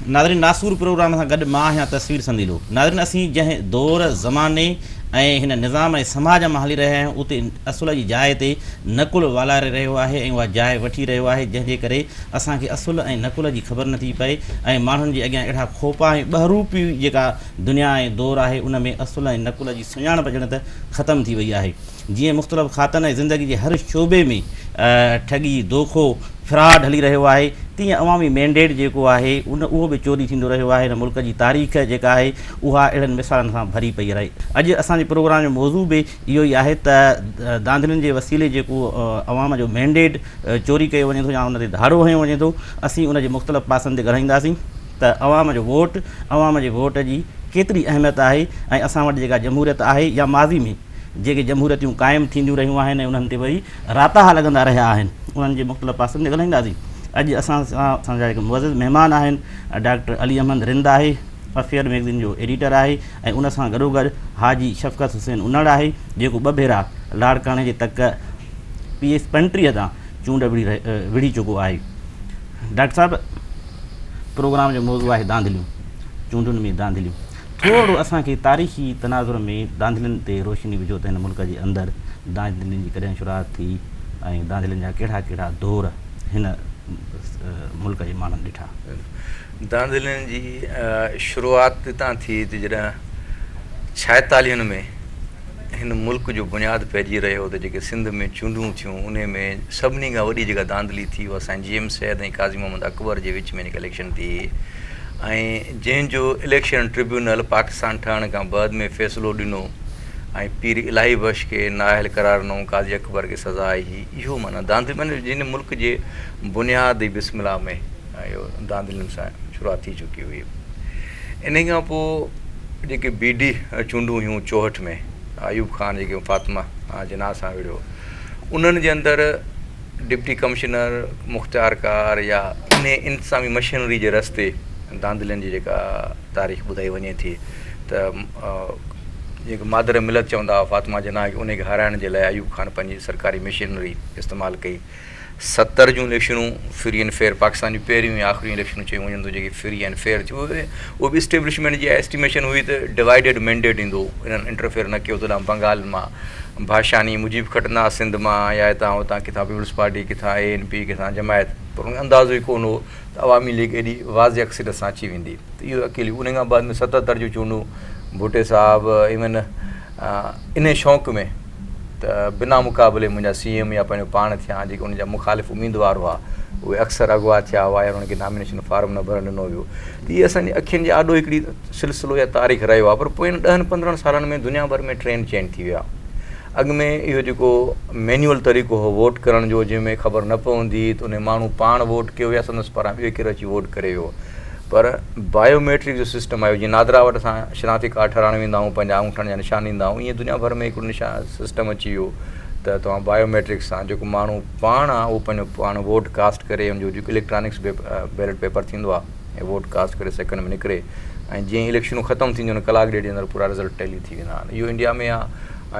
ناظرين ناسور پروگرام سان گڏ مان آهيان تصوير سنديلو ناظرين اسين جنهن دور زماني ۽ هن نظام ۽ سماج مان هلي رهيا آهيون اتي اصل جي جاء تي نقل والاري رهيو آهي ۽ اها جاء وٺي رهيو آهي جنهن جي ڪري اسان کي اصل ۽ نقل جي خبر نٿي پئي ۽ ماڻهن جي اڳيان اهڙا کوپا ۽ ٻهروپي جيڪا دنيا ۽ دور آهي، ان ۾ اصل ۽ نقل جي سڃاڻپ ڄڻ ته ختم ٿي وئي آهي. جيئن مختلف کاتن ۽ زندگي جي هر شعبي ۾ ٺڳي، دوکو، فراڊ هلي رهيو آهي، تيئن عوامي مينڊيٽ جيڪو آهي، ان اهو به چوري ٿيندو رهيو آهي. هن ملڪ جي تاريخ جيڪا آهي، اها اهڙن مثالن سان ڀري پئي آهي. اڄ اسان جي پروگرام جو موضوع به اهو ئي آهي ته ڌانڌلين جي وسيلي جيڪو عوام جو مينڊيٽ چوري ڪيو وڃي ٿو يا ان تي ڌاڙو هنيو وڃي ٿو، اسين ان جي مختلف پاسن تي ڳالهائينداسين. ته عوام جو ووٽ، عوام جي ووٽ جي ڪيتري اهميت آهي ۽ اسان وٽ جيڪا جمهوريت آهي يا ماضي ۾ جيڪي جمهوريتون قائم ٿينديون رهيون آهن ۽ انهن تي وري راتاها لڳندا رهيا آهن انهن جي مختلف پاسن تي ڳالهائينداسين. اڄ اسان سان اسان جا هڪ معزز مهمان آهن ڊاڪٽر علي احمد رند آهي افيئر ميگزين جو ايڊيٽر آهي ۽ ان سان گڏوگڏ حاجي شفقت حسين انڙ آهي جيڪو ٻه ڀيرا لاڙڪاڻي جي تڪ پي ايس پنٽيهه تان چونڊ وڙهي چڪو آهي. ڊاڪٽر صاحب پروگرام جو موضوع آهي ڌانڌليون چونڊن ۾ ڌانڌليون ٿورڙو اسان کي تاريخي تناظر ۾ ڌانڌلين تي روشني وجهو ته هن ملڪ جي اندر ڌانڌلين جي ڪڏهن شروعات ٿي ۽ ڌانڌلين جا ڪهڙا ڪهڙا دور هن ملڪ جي ماڻهن ڏٺا. ڌانڌلين جي شروعات اتان ٿي ته جڏهن ڇائيتاليهن ۾ هن ملڪ جو بنياد پئجي رهيو ته جيڪي سنڌ ۾ چونڊون ٿيون انهي ۾ سڀني کان وڏي جيڪا ڌانڌلي ٿي اها سائين جي ايم سيد ۽ قاضي محمد اڪبر جي وچ ۾ جيڪا اليڪشن ٿي هئي ۽ جنهن جو اليڪشن ٽربيونل پاڪستان ٺهڻ کان بعد ۾ فيصلو ڏنو ۽ پير الاهي بخش کي نااهل قرار ڏنو قاضي اڪبر کي سزا آئي هئي اهو معنيٰ ڌانڌلي معنيٰ جنهن ملڪ جي بنياد ئي بسم الله ۾ اهو ڌانڌلين سان شروعات ٿي چڪي هئي. انهيء کان پوء جيڪي بي ڊي چونڊون هيون چوهٺ ۾ ايوب خان جيڪي فاطمه جناح سان وڙهيو انهن جي اندر ڊپٽي ڪمشنر مختيار ڪار يا انهي انتظامي مشينري جي رستي ڌانڌلين جي جيڪا تاريخ ٻڌائي وڃي ٿي ته جيڪي مادر ملت چوندا هئا فاطمه جناح کي انهي کي هارائڻ جي لاء ايوب خان پنهنجي سرڪاري مشينري استعمال ڪئي ستر جون اليڪشنون فري اينڊ فيئر پاڪستان جون پهريون ۽ آخريون اليڪشنون چيون وڃن ٿيون جيڪي فري اينڊ فيئر ٿيون اهي اهو به اسٽيبلشمينٽ جي اها اسٽيميشن هئي ته ڊوائيڊيڊ مينڊيٽ ايندو انهن انٽرفيئر نه ڪيو تڏهن بنگال مان ڀاشاني مجيب کٽندا سنڌ مان يا هتان هتان ڪٿان پيپلز پارٽي ڪٿان اي اين پي ڪٿان جماعت پر ان کي اندازو ئي ڪونه هو ته عوامي ليگ ايڏي واضح اڪثريت سان اچي ويندي ته اهو اڪيلي ان کان بعد ۾ ستهتر جون چونڊون ڀٽي صاحب ايون انهي شوق ۾ ته بنا مقابلي منهنجا سي ايم يا پنهنجو پاڻ ٿيان جيڪي ان جا مخالف اميدوار هئا اهي اڪثر اغوا ٿيا هئا يا انهن کي نامينيشن فارم نه ڀرڻ ڏنو ويو ته هي اسان جي اکين جي آڏو هڪڙي سلسلو يا تاريخ رهيو آهي پر پوئين ڏهن پندرهن سالن ۾ دنيا ڀر ۾ ٽرينڊ چينج ٿي ويو آهي اڳ ۾ اهو جيڪو مينيول طريقو هو ووٽ ڪرڻ جو جنهن ۾ خبر نه پوندي هئي ته ان ماڻهو پاڻ ووٽ ڪيو يا سندس پاران ٻيو ڪير اچي ووٽ ڪري ويو پر بايو ميٽرڪ جو سسٽم آيو جيئن نادرا وٽ اسان شناختي ڪارڊ ٺھرائڻ ويندا آھيون پنھنجا انگوٺن جا نشان ڏيندا آھيون ايئن دنيا ڀر ۾ ھڪڙو نشان سسٽم اچي ويو ته توھان بايو ميٽرڪ سان جيڪو ماڻھو پاڻ آ اھو پنھنجو پاڻ ووٽ ڪاسٽ ڪري ان جو جيڪو اليڪٽرانڪس بي بيلٽ پيپر ٿيندو آ ۽ ووٽ ڪاسٽ ڪري سيڪنڊ ۾ نڪري ۽ جيئن اليڪشنون ختم ٿينديون آھن ڪلاڪ ڏيڍ جي اندر پورا رزلٽ ٽيلي ٿي ويندا آھن اھو انڊيا ۾ آ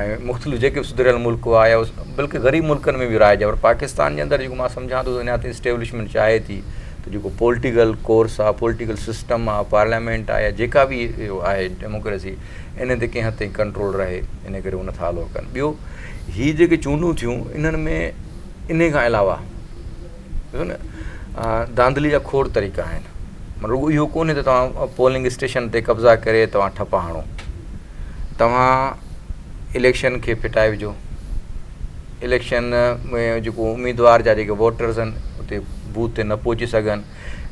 ۽ مختلف جيڪي بھ سڌريل ملڪ آ يا بلڪل غريب ملڪن ۾ بھ رائج آ پر پاڪستان جي اندر جيڪو مان سمجھان ٿو اڃا تائين اسٽيبلشمينٽ چاھي ٿي جيڪو پولٽيڪل ڪورس آ، پولٽيڪل سسٽم آ، پارليامينٽ آ يا جيڪا به آهي ڊيموڪريسي انهن تي ڪنهن حد تائين ڪنٽرول رهي انهي ڪري هو نٿا الو ڪن. ٻيو هي جيڪي چونڊون ٿيون انهن ۾ انهي کان علاوه ڏسو نه ڌانڌلي جا کوڙ طريقا آهن مطلب رڳو اهو ڪونهي ته توهان پولنگ اسٽيشن تي قبضا ڪري توهان ٺپا هڻو توهان اليڪشن کي ڦٽائي وجهو اليڪشن ۾ جيڪو اميدوار جا جيڪي ووٽرز آهن اتي بوٿ تي نه پهچي سگهن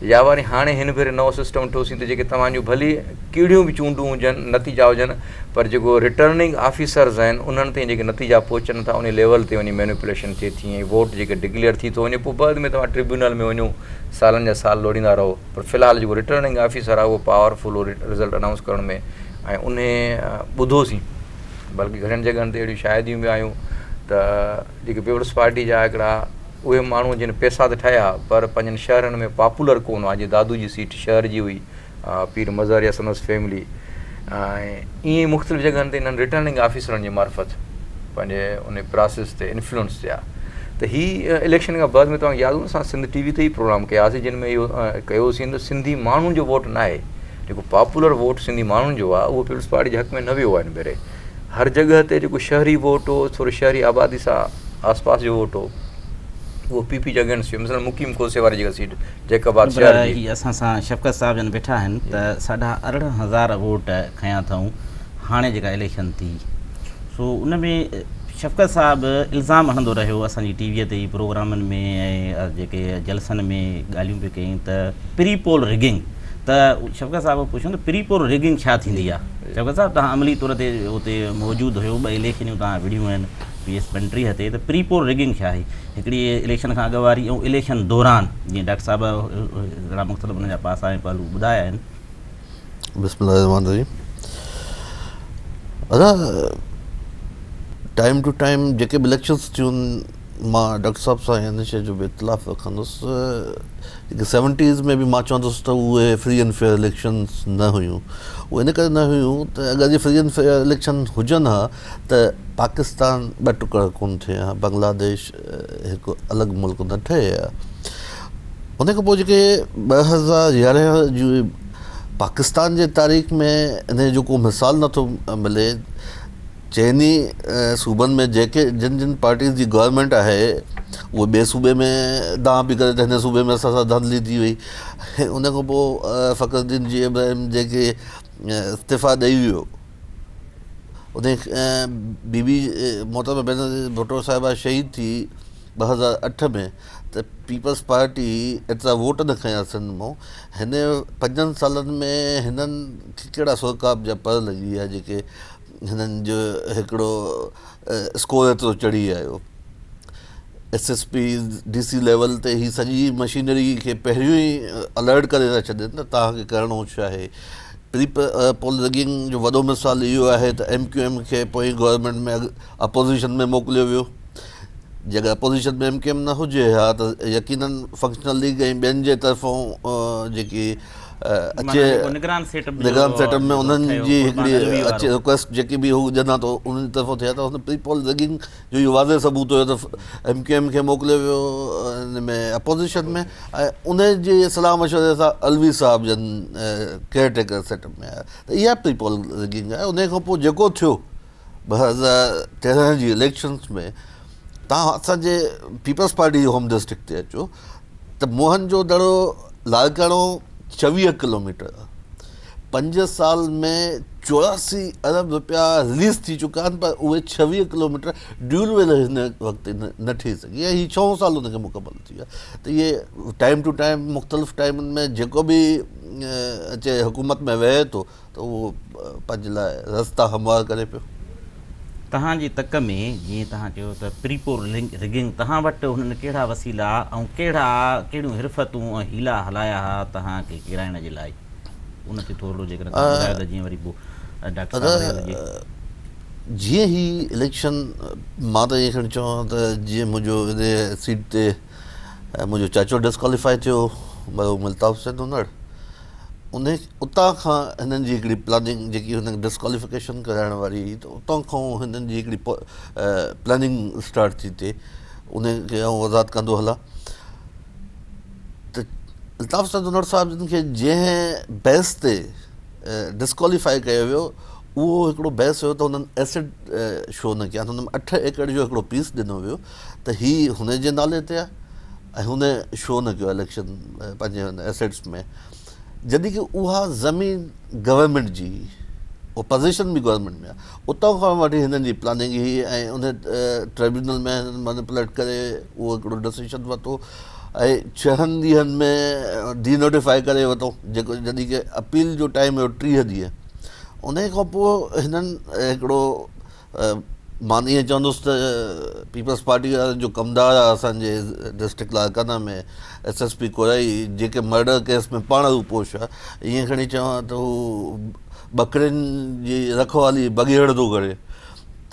يا وري هاڻي هن ڀيري نئون سسٽم ٺوسين ته جيڪي توهان جون ڀلي ڪهڙيون به چونڊون هجن نتيجا هجن پر جيڪو رٽرننگ آفيسرز آهن انهن تائين جيڪي نتيجا پهچن ٿا انهي ليول تي وڃي مينوپليشن ٿئي ٿي ۽ ووٽ جيڪي ڊڪليئر ٿي ٿو وڃي پوء بعد ۾ توهان ٽربيونل ۾ وڃو سالن جا سال لوڙيندا رهو پر في الحال جيڪو رٽرننگ آفيسر آهي اهو پاور فل رزلٽ انائونس ڪرڻ ۾ ۽ انهي ٻڌوسين بلڪه گهڻين جڳهن تي اهڙيون شاهديون به آيون ته جيڪي پيپلز پارٽي جا هڪڙا اهي ماڻهو جن پيسا ته ٺاهيا پر پنهنجن شهرن ۾ پاپولر ڪو نه هئا جيئن دادو جي سيٽ شهر جي هئي پير مظهر يا سندس فيملي ۽ ايئن مختلف جڳهن تي انهن رٽرننگ آفيسرن جي معرفت پنهنجي ان پراسيس تي انفلوئنس ٿيا ته هي اليڪشن کان بعد ۾ توهان کي ياد هوندو اسان سنڌ ٽي وي تي ئي پروگرام ڪياسي جن ۾ اهو ڪيوسين ته سنڌي ماڻهن جو ووٽ ناهي جيڪو پاپولر ووٽ سنڌي ماڻهن جو آهي اهو پيپلز پارٽي جي حق ۾ نه ويو آهي هن ڀيري هر جڳهه تي جيڪو شهري ووٽ هو ٿوري شهري آبادي سان آس پاس جو ووٽ هو اهو پي پي جي اگينسٽ هيو مثلا مقيم کوسي واري جيڪا سيٽ جيڪب آباد شهر جي هي اسان سان شفقت صاحب جن ويٺا آهن ته ساڍا ارڙهن هزار ووٽ کنيا اٿئون هاڻي جيڪا اليڪشن ٿي سو ان ۾ شفقت صاحب الزام هڻندو رهيو اسان جي ٽي وي تي پروگرامن ۾ ۽ جيڪي جلسن ۾ ڳالهيون به ڪيائين ته پري پول رگنگ ته شوڪت صاحب کان پڇيو ته پري پول ريگنگ ڇا ٿيندي آ؟ شوڪت صاحب توهان عملي طور تي اتي موجود هيو ٻه اليڪشنيون توهان وڙهيون آهن پي ايس پنٽريهه تي ته پري پول ريگنگ ڇا آهي هڪڙي اليڪشن کان اڳ واري ۽ اليڪشن دوران جيئن ڊاڪٽر صاحب هڪڙا مختلف ان جا پاسا ۽ پهلو ٻڌايا آهن. بسم الله الرحمٰن الرحيم ادا ٽائيم ٽو ٽائيم جيڪي به اليڪشنس ٿيون مان ڊاڪٽر صاحب سان هن شيء جو به اختلاف رکندس جيڪي سيونٽيز ۾ به مان چوندس ته اهي فري اينڊ فيئر اليڪشنس نه هيون اهي ان ڪري نه هيون ته اگر جي فري اينڊ فيئر اليڪشن هجن ها ته پاڪستان ٻه ٽڪر ڪونه ٿئي ها بنگلاديش هڪ الڳ ملڪ نه ٺهي ها ان کان پوء جيڪي ٻه هزار يارهن جي پاڪستان جي تاريخ ۾ ان جو ڪو مثال نٿو ملي چئن ئي صوبن ۾ جيڪي جن جن پارٽيز جي گورمينٽ آهي اهي ٻئي صوبي ۾ دانهن پئي ڪري ته هن صوبي ۾ اسان سان ڌانڌلي ٿي وئي ان کان پوء فخر الدين جي ابراهيم جيڪي استعيفا ڏئي ويو ان بي بي محترمه بينظير ڀٽو صاحبه شهيد ٿي ٻه هزار اٺ ۾ ته پيپلز پارٽي ايترا ووٽ نه کنيا سنڌ مون هن پنجن سالن ۾ هنن کي ڪهڙا سوڪاب جا پڙ لڳي ويا جيڪي هنن جو هڪڙو اسڪور ايترو چڙهي آيو S S P D C level تي هي سڄي مشينري کي پهريون ئي الرٽ ڪري ٿا ڇڏين ته توهان کي ڪرڻو ڇا آهي ري پول رگنگ جو وڏو مثال اهو آهي ته ايم ڪيو ايم کي پوئين گورنمينٽ ۾ اپوزيشن ۾ موڪليو ويو جي اگر اپوزيشن ۾ ايم ڪيو ايم نه هجي ها ته يقينن فنڪشنل ليگ ۽ ٻين جي طرفون جيڪي اچي نگران سيٽ اپ نگران سيٽ اپ ۾ انهن جي هڪڙي اچي ريڪويسٽ جيڪي به هو جنا ٿو انهن جي طرفون ٿئي ته پري پول ريگنگ جو اهو واضح ثبوت هيو ته ايم ڪيو ايم کي موڪليو ويو ان ۾ اپوزيشن ۾ ۽ ان جي صلاح مشوري سان علوي صاحب جن ڪيئر ٽيڪر سيٽ اپ ۾ آيا ته اها پري پول ريگنگ آهي ان کان پوء جيڪو ٿيو ٻه هزار تيرنهن جي اليڪشنس ۾ تان اسان جي پيپلز پارٽي جي هوم ڊسٽرڪٽ تي اچو ته موهن جو دڙو لاڙڪاڻو چويهه ڪلوميٽر پنج سال ۾ چوراسی ارب روپيا رليز ٿي چڪا آهن پر اهي چويهه ڪلوميٽر ڊيول ويل هن وقت نه ٺهي سگهي ۽ هي ڇهون سال ان کي مڪمل ٿي ويا ته اهي ٽائم ٽو ٽائم مختلف ٽائمن ۾ جيڪو به اچي حڪومت ۾ ويهي ٿو ته اهو پنهنجي لاء رستا هموار ڪري پيو. تهان جي تڪ ۾ جيئن توهان چيو ته پريپور رگنگ توهان وٽ هنن ڪهڙا وسيلا ۽ ڪهڙا ڪهڙيون حرفتون ۽ حيلا هلايا ها توهان کي ڪيرائڻ جي لاء ان تي ٿورڙو جيڪڏهن توهان ٻڌايو ته جيئن وري پوء ڊاڪٽر صاحب رهي هجي. جيئن هي اليڪشن مان ته ائين کڻي چوان ته جيئن منهنجو ان سيٽ تي منهنجو چاچو ڊسڪواليفائي ٿيو مرحوم الطاف حسين نونهڙ ان اتان کان هنن جي هڪڙي پلاننگ جيڪي هنن کي ڊسڪواليفڪيشن ڪرائڻ واري هئي ته اتان کان هنن جي هڪڙي پلاننگ اسٽارٽ ٿي تي ان کي آئون وضاحت ڪندو هلا ته الطاف سيد انور صاحب جن کي جنهن بحث تي ڊسڪواليفائي ڪيو ويو اهو هڪڙو بحث هيو ته هنن ايسڊ شو نه ڪيا هنن اٺ ايڪڙ جو هڪڙو پيس ڏنو ويو ته هي هن جي نالي تي آهي ۽ هن شو نه ڪيو اليڪشن پنهنجي هن ايسڊس ۾ جڏهن ڪي اها زمين گورنمينٽ جي اپوزيشن به گورنمينٽ ۾ آهي اتان کان وٺي هنن جي پلاننگ هئي ۽ ان ٽريبيونل ۾ هنن مانيپوليٽ ڪري اهو هڪڙو ڊسيشن ورتو ۽ ڇهن ڏينهن ۾ ڊي نوٽيفائي ڪري ورتو جيڪو جڏهن ڪي اپيل جو ٽائيم هو ٽيهه ڏينهن ان کان پوء هنن هڪڙو مان ائين چوندس ته پيپلز پارٽي وارن جو ڪمدار آ اسان جي district Larkana ۾ S S P Korai جيڪي مرڊر ڪيس ۾ پاڻ روپوش آ ائين کڻي چوان ته هو ٻڪرين جي رکوالي بگهيڙ ٿو ڪري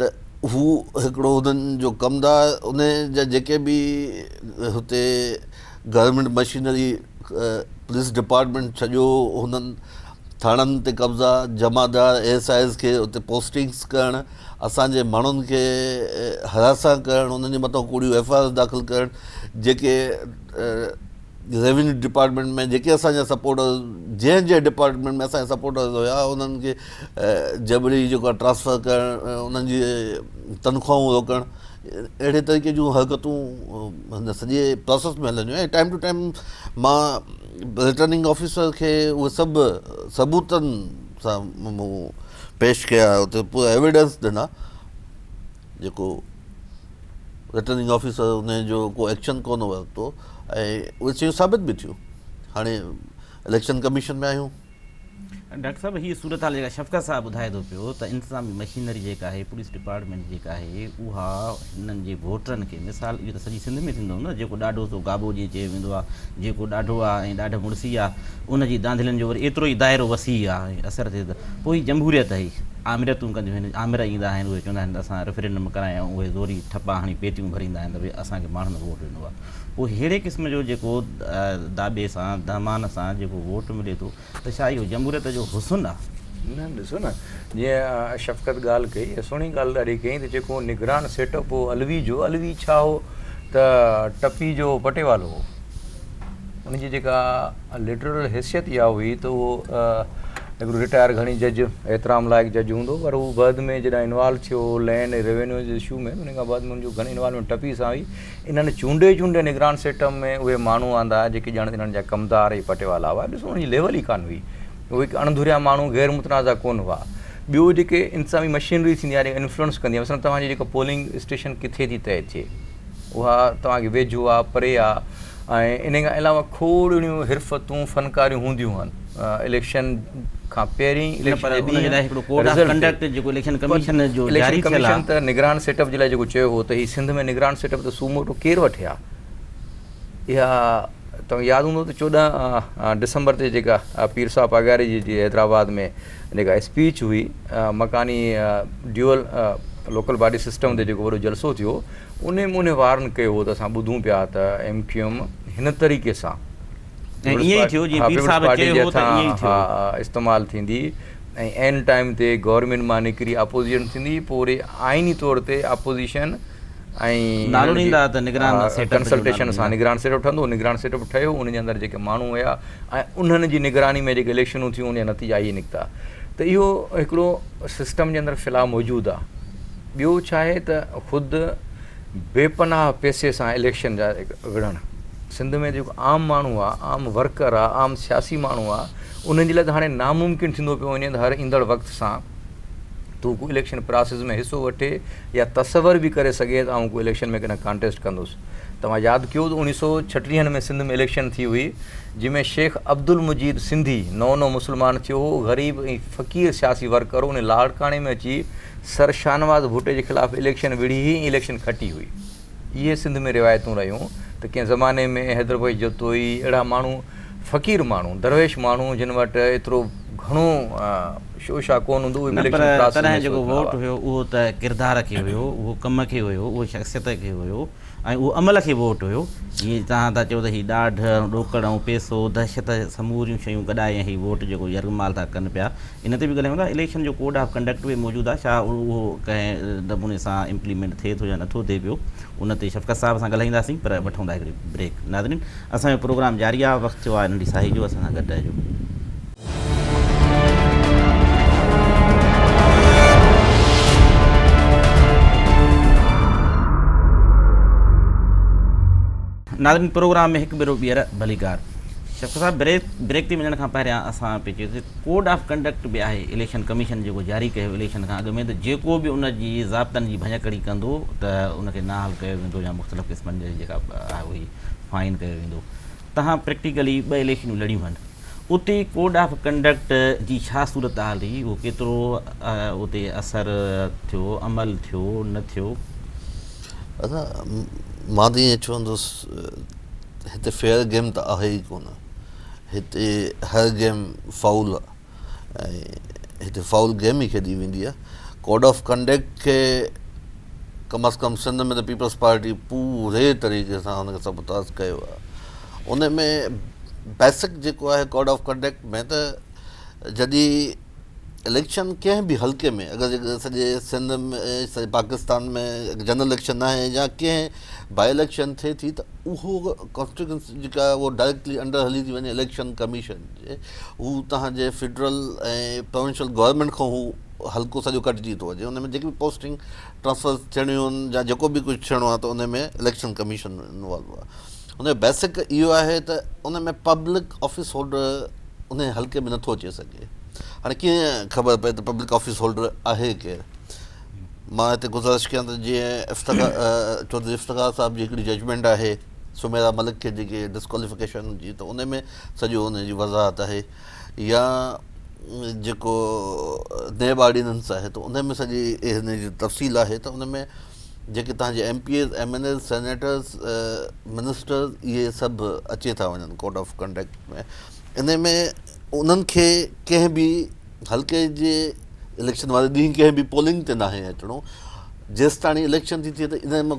ته هو هڪڙو هنن جو ڪمدار ان جا جيڪي به هتي گورنمينٽ مشينري پوليس ڊپارٽمينٽ سڄو هنن ٿاڻن تي قبضا، جمعدار ايس آء ايز کي اتي پوسٽنگز ڪرڻ، اسان جي ماڻهن کي هراسان ڪرڻ، انهن جي مٿان ڪوڙيون ايف آء آرز داخل ڪرڻ، جيڪي ريونيو ڊپارٽمينٽ ۾ جيڪي اسان جا سپورٽرز جنهن جنهن ڊپارٽمينٽ ۾ اسان جا سپورٽرز هيا انهن کي جبري جيڪو آهي ٽرانسفر ڪرڻ، انهن جي تنخواهون روڪڻ اهڙي طريقي جون حرڪتون هن سڄي پراسيس ۾ هلنديون ۽ ٽائيم ٽو ٽائيم مان رٽرننگ آفيسر کي اهي سڀ ثبوتن سان مون پيش ڪيا اتي پورا ايويڊنس ڏنا جيڪو رٽرننگ آفيسر ان جو ڪو ايڪشن ڪونه ورتو ۽ اهي شيون ثابت به ٿيون هاڻي اليڪشن ڪميشن ۾ آيون ڊاڪٽر صاحب هي صورتحال جيڪا شفقت صاحب ٻڌائي ٿو پيو ته انتظامي مشينري جيڪا آهي پوليس ڊپارٽمينٽ جيڪا آهي اها هنن جي ووٽرن کي مثال اهو ته سڄي سنڌ ۾ ٿيندو نه جيڪو ڏاڍو سو گابو جي چيو ويندو آهي جيڪو ڏاڍو آهي ۽ ڏاڍ مڙسي آهي ان جي دانڌلين جو وري ايترو ئي دائرو وسيع آهي ۽ اثر ٿئي ٿو پوء هي جمهوريت هي آمريتون ڪنديون آهن آمر ايندا آهن اهي چوندا آهن ته اسان ريفرينڊم ڪرايائون اهي زوري ٺپا هڻي پيتيون ڀريندا آهن ته ڀئي اسان کي ماڻهن ووٽ ڏنو آهي پوء ههڙي قسم جو جيڪو داٻي سان دهمان سان جيڪو ووٽ ملي ٿو ته ڇا اهو جمهوريت جو حسن آهي؟ نه ڏسو نه جيئن شفقت ڳالهه ڪئي ۽ سهڻي ڳالهه ڏاڍي ڪيائين ته جيڪو نگران سيٽ اپ هو علوي جو علوي ڇا هو ته ٽپي جو پٽيوالو هو ان جي جيڪا لٽرل حيثيت اها هئي ته اهو هڪڙو رٽائر گهڻي جج احترام لائق جج هوندو پر هو بعد ۾ جڏهن انوالو ٿيو لينڊ ريونيو جي اشو ۾ ان کان بعد ۾ ان جو گهڻي انوالومينٽ ٽپي سان هئي انهن چونڊي چونڊي نگران سيٽم ۾ اهي ماڻهو آندا جيڪي ڄڻ انهن جا ڪمدار ۽ پٽيوالا هئا. ڏسو انهن جي ليول ئي ڪانه هئي. اهي هڪ اڻڌريا ماڻهو غير متنازع ڪونه هئا. ٻيو جيڪي انتظامي مشينري ٿيندي آهي جيڪا انفلوئنس ڪندي آهي مثلا توهان جي جيڪا پولنگ اسٽيشن ڪٿي ٿي طئي ٿئي اها توهان کي ويجهو آهي پري آهي ۽ انهي کان علاوه کوڙ اهڙيون حرفتون فنڪاريون هونديون هن. اليڪشن کان پهرين اليڪشن ڪميشن ته نگران سيٽ اپ جي لاء جيڪو چيو هو ته هي سنڌ ۾ نگران سيٽ اپ ته سوموٽو ڪير وٺي ها اها توهان کي ياد هوندو ته چوڏهن ڊسمبر تي جيڪا پير صاحب پاڳاري جي جي حيدرآباد ۾ جيڪا اسپيچ هئي مڪاني ڊيول لوڪل باڊي سسٽم تي جيڪو وڏو جلسو ٿيو ان ان وارن ڪيو هو ته اسان ٻڌون پيا ته ايم ڪيو ايم هن طريقي سان استعمال ٿيندي ۽ عين ٽائيم تي گورنمينٽ مان نڪري اپوزيشن ٿيندي پوء وري آئيني طور تي اپوزيشن ۽ ڪنسلٽيشن سان نگران سيٽ اپ ٺهندو نگران سيٽ اپ ٺهيو ان جي اندر جيڪي ماڻهو هيا ۽ انهن جي نگراني ۾ جيڪي اليڪشنون ٿيون ان جا نتيجا ائين نڪتا ته اهو هڪڙو سسٽم جي اندر في الحال موجود آهي ٻيو ڇا آهي ته خود بي پناهه پئسي سان اليڪشن جا وڙهڻ سنڌ ۾ جيڪو عام ماڻهو آ عام ورڪر آ عام سياسي ماڻهو آ انهن جي لاء ته هاڻي ناممڪن ٿيندو پيو وڃي ته هر ايندڙ وقت سان تون ڪو اليڪشن پراسيس ۾ حصو وٺي يا تصور به ڪري سگهي ته آئون ڪو اليڪشن ۾ ڪڏهن ڪانٽيسٽ ڪندس توهان ياد ڪيو ته اوڻيهه سو ڇٽيهن ۾ سنڌ ۾ اليڪشن ٿي هئي جنهن ۾ شيخ عبدالمجيد سنڌي نئون نئون مسلمان ٿيو هو غريب ۽ فقير سياسي ورڪر هو انهي لاڙڪاڻي ۾ اچي سر شاهنواز ڀٽي جي خلاف اليڪشن وڙهي هي اليڪشن کٽي هئي. اهي سنڌ ۾ روايتون رهيون ته ڪنهن زماني ۾ حيدربيگ جتوئي اهڙا ماڻهو فقير ماڻهو درويش ماڻهو جن وٽ ايترو گهڻو شوشا ڪون هوندو اهي به اليڪشن پراسس ۾ سوچندا هئا. نه پر تڏهن جيڪو ووٽ هيو اهو ته ڪردار کي هيو اهو ڪم کي هيو اهو شخصيت کي هيو. ۽ اهو عمل کي ووٽ هيو. جيئن توهان ٿا چئو ته هي ڏاڍ ۽ ڏوڪڙ ۽ پئسو، دهشت سموريون شيون گڏائي ۽ هي ووٽ جيڪو يرغمال ٿا ڪن پيا ان تي به ڳالهايون ٿا. اليڪشن جو ڪوڊ آف ڪنڊڪٽ به موجود آهي ڇا اهو ڪنهن نموني سان امپليمينٽ ٿئي ٿو يا نٿو ٿئي پيو ان تي شفقت صاحب سان ڳالهائينداسين پر وٺون ٿا هڪڙي بريڪ. ناظرين اسان جو پروگرام جاري آهي وقت ٿيو آهي ننڍي ساهي جو اسان سان گڏ رهجو. ناظرين پروگرام ۾ هڪ ڀيرو ٻيهر ڀليڪار شفقت صاحب بريڪ تي وڃڻ کان پهريان اسان پي چيو ڪوڊ آف ڪنڊڪٽ به آهي اليڪشن ڪميشن جيڪو جاري ڪيو اليڪشن کان اڳ ۾ ته جيڪو به ان جي ضابطن جي ڀڃڪڙي ڪندو ته ان کي نااهل ڪيو ويندو يا مختلف قسمن جي جيڪا آهي اهي فائن ڪيو ويندو تهان پريڪٽيڪلي ٻه اليڪشنون لڙيون آهن اتي ڪوڊ آف ڪنڊڪٽ جي ڇا صورتحال هئي، اهو ڪيترو اتي اثر ٿيو، عمل ٿيو، نه ٿيو؟ ادا مان ته ائين چوندس هتي فيئر گيم ته آهي ئي ڪونه هتي هر گيم فائول آهي ۽ هتي فائول گيم ئي کيڏي ويندي آهي ڪوڊ آف ڪنڊڪٽ کي ڪم از ڪم سنڌ ۾ ته پيپلز پارٽي پوري طريقي سان ان کي سبوتاز ڪيو آهي ان ۾ بيسڪ جيڪو آهي ڪوڊ آف ڪنڊڪٽ ۾ ته جڏهن اليڪشن ڪنهن به حلقي ۾ اگر جيڪو سڄي سنڌ ۾ سڄي پاڪستان ۾ جنرل اليڪشن آهي يا ڪنهن باء اليڪشن ٿئي ٿي ته اهو ڪانسٽيوشنس جيڪا آهي اهو ڊائريڪٽلي انڊر هلي ٿي وڃي اليڪشن ڪميشن جي هو تنهنجي فيڊرل ۽ پروونشل گورنمينٽ کان هو حلقو سڄو ڪٽجي ٿو وڃي ان ۾ جيڪي به پوسٽنگ ٽرانسفر ٿيڻيون آهن يا جيڪو به ڪجهه ٿيڻو آهي ته ان ۾ اليڪشن ڪميشن انوالو آهي ان جو بيسڪ اهو آهي ته ان ۾ پبلڪ آفيس هولڊر ان حلقي ۾ نٿو اچي سگهي هاڻي ڪيئن خبر پئي ته پبلڪ آفيس هولڊر آهي ڪير مان هتي گزارش ڪيان ته جيئن افتخار چوڌري افتخار صاحب جي هڪڙي ججمنٽ آهي سميرا ملڪ کي جيڪي ڊسڪواليفڪيشن جي ته ان ۾ سڄو ان جي وضاحت آهي يا جيڪو نيب آرڊيننس آهي ته ان ۾ سڄي ان جي تفصيل آهي ته ان ۾ جيڪي تهان جي M P As M N As senators ministers اهي سڀ اچي ٿا وڃن ڪوڊ آف ڪنڊڪٽ ۾ ان ۾ انهن کي ڪنهن به حلقي جي اليڪشن واري ڏينهن ڪنهن به پولنگ تي ناهي اچڻو جيستاڻي اليڪشن ٿي ٿئي ته ان ۾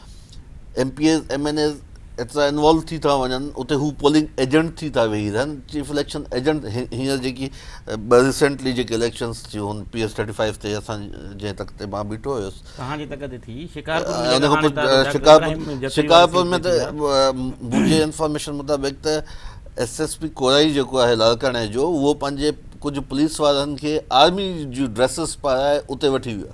M P As M N As ايترا انوالو ٿي ٿا وڃن اتي هو پولنگ ايجنٽ ٿي ٿا ويهي رهن چيف اليڪشن ايجنٽ هينئر جيڪي ٻه ريسينٽلي جيڪي اليڪشنس ٿيون هن پي ايس ٿرٽي فائيو تي اسان جنهن تخت تي مان بيٺو هيس توهان جي تخت تي ٿي شڪارپور شڪارپور ۾ ته منهنجي انفارميشن مطابق ته ايس ايس پي ڪورائي جيڪو آهي لاڙڪاڻي جو اهو پنهنجي ڪجهه پوليس وارن کي آرمي جون ڊريسز پارائي اتي وٺي ويو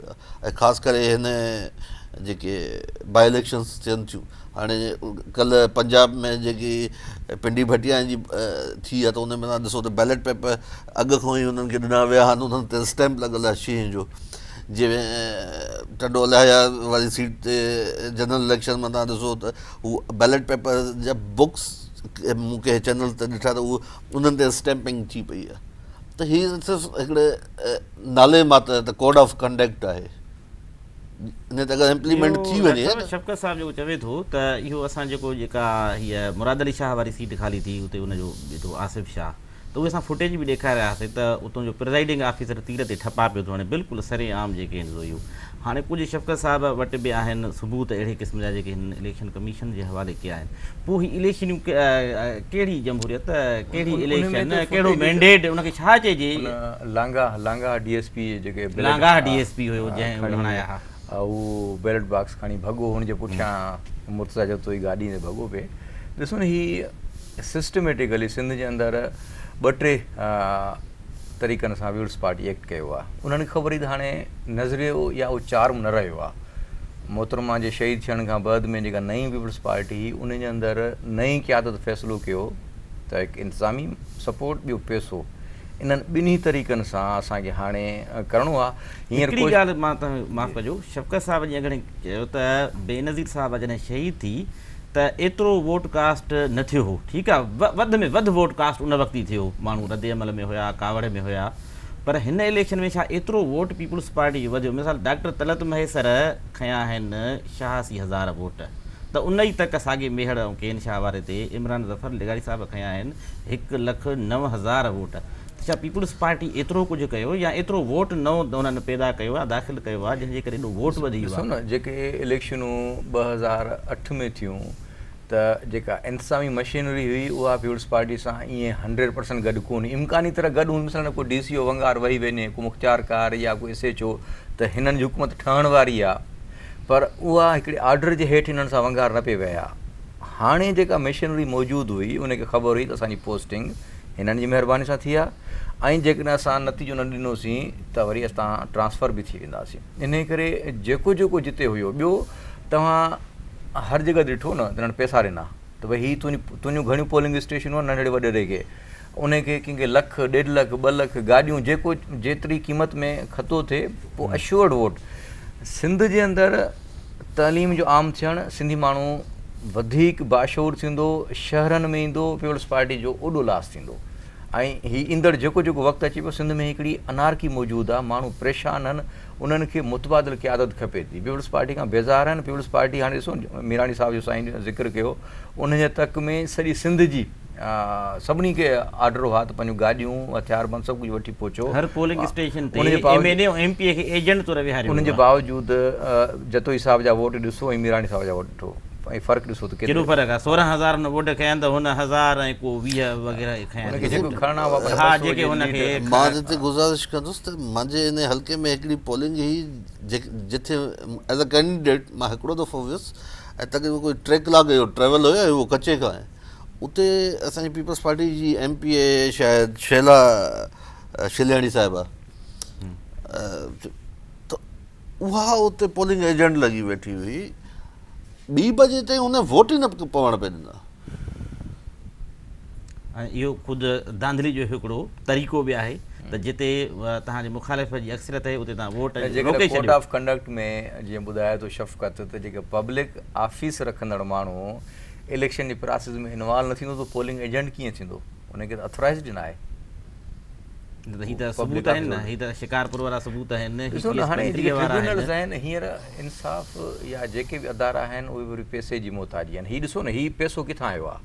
۽ خاص ڪري هن جيڪي باء اليڪشنز ٿين ٿيون هاڻي ڪلهه پنجاب ۾ جيڪي پنڊي ڀٽيا جي ٿي آهي ته ان ۾ ڏسو ته بيلٽ پيپر اڳ کان ئي انهن کي ڏنا ويا آهن انهن تي اسٽيمپ لڳل آهي شينهن جو جي ٽنڊو الاهيا واري سيٽ تي جنرل اليڪشن ۾ تان ڏسو ته هو بيلٽ پيپر جا بڪس مون کي چينل تي ڏٺا ته انهن تي اسٽيمپنگ ٿي پئي آهي ته هي صرف هڪڙي نالي ماتر ته ڪوڊ آف ڪنڊڪٽ آهي جنهن تي اگر امپليمينٽ ٿي وڃي. ڊاڪٽر شفقت صاحب جيڪو چوي ٿو ته اهو اسان جيڪو جيڪا هيء مراد علي شاهه واري سيٽ خالي ٿي اتي ان جو بيٺو آصف شاهه ته اهي اسان فوٽيج به ڏيکاري رهياسي ته اتون جو پرزائيڊنگ آفيسر تير تي ٺپا پيو ٿو هڻي بلڪل سري عام جيڪي هن زويو هاڻي ڪجهه شفقت صاحب وٽ به آهن ثبوت اهڙي قسم جا جيڪي هنن اليڪشن ڪميشن جي حوالي ڪيا آهن پوء هي اليڪشنون ڪهڙي جمهوريت ڪهڙي اليڪشن ڪهڙو مينڊيٽ ان کي ڇا چئجي ان Langah Langah D S P جيڪي لانگاهه ڊي ايس پي هيو جنهن هڻايا ها هو بيلٽ باڪس کڻي ڀڳو هن جي پٺيان مرتضيٰ جتوئي گاڏي تي ڀڳو پئي ڏسو نه هي سسٽميٽڪلي سنڌ جي اندر ٻه ٽي طريقن سان ويولز پارٽي ايڪٽ ڪيو آ انهن کي خبر هئي ته هاڻي نظريو يا اهو چارم نه رهيو آ محترمه جي شهيد ٿيڻ کان بعد ۾ جيڪا نئين ويولز پارٽي هئي انهن جي اندر نئين قيادت فيصلو ڪيو ته هڪ انتظامي سپورٽ ٻيو پيسو انهن ٻنهي طريقن سان اسان کي هاڻي ڪرڻو آ هينئر هڪڙي ڳالهه مان معاف ڪجو شفقت صاحب جي اڳڙي چيو ته بينظير صاحب جڏهن شهيد ٿي ته ايترو ووٽ ڪاسٽ نه ٿيو هو ٺيڪ آ وڌ ۾ وڌ ووٽ ڪاسٽ ان وقت ئي ٿيو ماڻهو رد عمل ۾ هيا ڪاوڙ ۾ هيا پر هن اليڪشن ۾ ڇا ايترو ووٽ پيپلز پارٽي جو وڌيو مثال ڊاڪٽر طلعت مهيسر کنيا آهن شهاسي هزار ووٽ ته ان ئي تڪ ساڳي ميهڙ ۽ ڪين شاهه واري تي عمران ظفر لغاري صاحب کنيا آهن هڪ لک نو هزار ووٽ ڇا پيپلز پارٽي ايترو ڪجهه ڪيو يا ايترو ووٽ نئون انهن پيدا ڪيو آهي داخل ڪيو آهي جنهن جي ڪري ايڏو ووٽ وڌي ويو آهي. ڏسو نه جيڪي اليڪشنون ٻه هزار اٺ ۾ ٿيون ته جيڪا انتظامي مشينري هئي اها پيپلز پارٽي سان ايئن هنڊريڊ پرسنٽ گڏ ڪون هئي امڪاني طرح گڏ هوندي مثلا ڪو ڊي سي او ونگار وهي وڃي ڪو مختيار ڪار يا ڪو ايس ايچ او ته هنن جي حڪومت ٺهڻ واري آهي پر اها هڪڙي آرڊر جي هيٺ هنن سان ونگار نه پئي وهي ها هاڻي جيڪا مشينري موجود هئي ان کي خبر هئي ته اسان جي پوسٽنگ هنن جي مهرباني سان ٿي ها ۽ جيڪڏهن اسان نتيجو نه ڏنوسين ته وري اسان ٽرانسفر به ٿي وينداسين انهي ڪري جيڪو جيڪو جتي هيو ٻيو توهان هر جڳهه ڏٺو نه ته انهن پئسا ڏنا ته ڀئي هي تنهنجي تنهنجون گهڻيون پولنگ اسٽيشنون آهن ننڍڙي وڏيري کي انهي کي ڪنهن کي لک ڏيڍ لک ٻه لک گاڏيون جيڪو جيتري قيمت ۾ کتو ٿئي پوء اشورڊ ووٽ سنڌ جي اندر تعليم جو عام ٿيڻ سنڌي ماڻهو وڌيڪ باشعور ٿيندو شهرن ۾ ايندو پيپلز پارٽي جو اوڏو لاس ٿيندو ۽ هي ايندڙ جيڪو جيڪو وقت اچي پيو سنڌ ۾ هڪڙي انارڪي موجود آ ماڻهو پريشان آهن انهن کي متبادل قيادت کپي ٿي پيپلز پارٽي کان بيزار آهن پيپلز پارٽي هاڻي ڏسو ميراڻي صاحب جو سائين ذڪر ڪيو انهن جي تڪ ۾ سڄي سنڌ جي سڀني کي آرڊر هئا ته پنهنجون گاڏيون، هٿياربند سڀ ڪجهه وٺي پهچو. هر پولنگ اسٽيشن تي M N A ۽ M P A کي ايجنٽ طور ويهاريو ويو آهي. ان جي باوجود جتوئي صاحب جا ووٽ ڏسو ۽ ميراڻي صاحب جا ووٽ ڏٺو ۽ فرق ڏسو ته ڪيترو فرق آهي. سورهن هزار هن ووٽ کنيا ته هن هزار ۽ ڪو ويهه وغيره ئي کنيا. هن کي جيڪو کڻڻا هئا پر بس هو جي ليڊ ڪرڻ. مان هتي گذارش ڪندس ته منهنجي ان حلقي ۾ هڪڙي پولنگ هئي جتي ايز اي ڪينڊيڊيٽ مان هڪڙو دفعو ويس ۽ تقريبن ڪوئي ٽي ڪلاڪ جو ٽريول هيو ۽ اهو ڪچي کان آهي. اتي اسان جي پيپلز پارٽي جي ايم پي اي شايد شيلا شلياڻي صاحبه ته اها اتي پولنگ ايجنٽ لڳي ويٺي هئي ٻي بجي تائين ان ووٽ ئي نه پوڻ پئي ڏنا اهو خود دانڌلي جو هڪڙو طريقو به آهي ته جتي تهان جي مخالف جي اڪثريت آهي اتي تهان ووٽ جيڪڏهن ڪوڊ آف ڪنڊڪٽ ۾ جيئن ٻڌايو ته شفقت ته جيڪي پبلڪ آفيس رکندڙ ماڻهو اليڪشن جي پراسيس ۾ انوالو نه ٿيندو ته پولنگ ايجنٽ ڪيئن ٿيندو ان کي ته اٿورائزڊ ئي ناهي. هي ته ثبوت آهن نه هي ته شڪارپور وارا ثبوت آهن. ڏسو نه هاڻي جيڪي ٽربيونلز آهن هينئر انصاف يا جيڪي به ادارا آهن اهي به وري پئسي جي محتاجي آهن هي ڏسو نه هي پئسو ڪٿان آيو آهي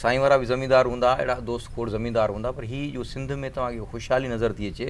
سائين وارا به زميندار هوندا اهڙا دوست کوڙ زميندار هوندا پر هي جو سنڌ ۾ توهان کي خوشحالي نظر ٿي اچي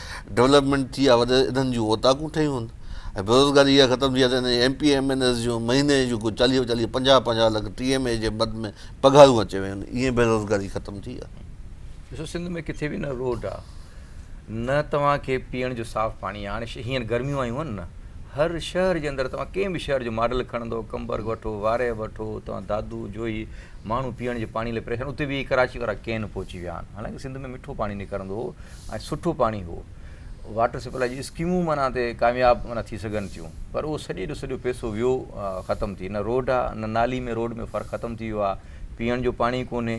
ڊولپمينٽ ٿي آ وڏي انهن جون اوطاقون ٺهيون آهن ۽ بيروزگاري اها ختم ٿي آ ته هن M P M N As جون مهيني جون ڪو چاليهه چاليهه پنجاهه پنجاهه لک ٽي ايم اي جي مد ۾ پگهارون اچي ويون آهن ائين بيروزگاري ختم ٿي آ. ڏسو سنڌ ۾ ڪٿي به نه روڊ آ نه توهان کي پيئڻ جو صاف پاڻي آ هاڻي هينئر گرميون آيون آهن نه هر شهر جي اندر توهان ڪنهن به شهر جو ماڊل کڻندو ڪمبر وٺو وارهه وٺو توهان دادو جوهي ماڻهو پيئڻ جي پاڻي لاء پريشان اتي به ڪراچي وارا ڪين پهچي ويا آهن حالانڪه سنڌ ۾ مٺو پاڻي نڪرندو هو ۽ سٺو پاڻي هو. واٽر سپلاء جون اسڪيمون معنيٰ تي ڪامياب معنيٰ ٿي سگهن ٿيون پر اهو سڄي جو سڄو پئسو ويو ختم ٿي نه روڊ آ نه نالي ۾ روڊ ۾ فرق ختم ٿي ويو آ پيئڻ جو پاڻي ڪونهي